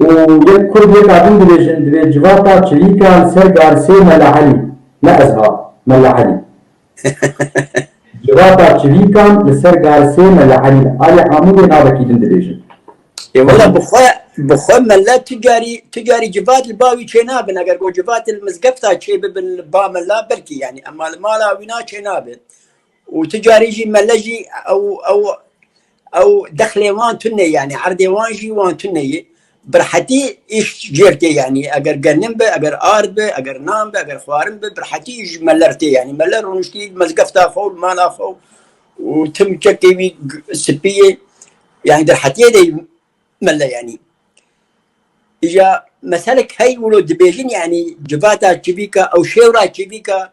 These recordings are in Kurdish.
Û yek kurd yek a din dibêjin divê civata çivîka li ser garsê Mela Elî, ne ez ha, Mela Elî. Civata çivîkan li ser garsê Mela Elî ne. Alî Amûdê navekî din dibêjin. Ê wela bi xwe, bi xwe Mela tu carî, tu carî civat li ba wî çênabin. Eger ku civatê li mizgefta çêbibin li ba Mela belkî yanî. Ema li mala wîna çênabin. û tu carî jî mele jî ew ew ew dexlê wan tune yanî erdê wan jî wan tune yê birhetî îş cêr tê yanî eger genim be eger ard be eger nan be eger xwarin be birhetî îş ji mele re tê yanî mele rûniştî mezgefta xwe û li mala xwe û tim çekê wî spî yê yanî di hetiyê de mele yanî îja meselek hey wilo dibêjin yanî civata çivîka ew şêwra çivîka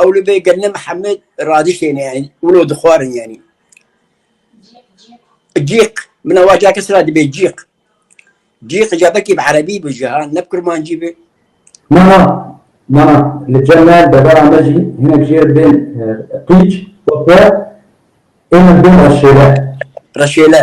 Ew li bê gelne Mihemed radiştêne yanî wilo dixwarin yanî. Cîq min ewa ca kes ra dibê cîq. Cîq ca bekî bi erebî bi jî ha ne bi kurmancî bi. Na na na na li cem me devera me jî hinek jê re dibên qîc û xwe ê me dibên reşêle. Reşêle.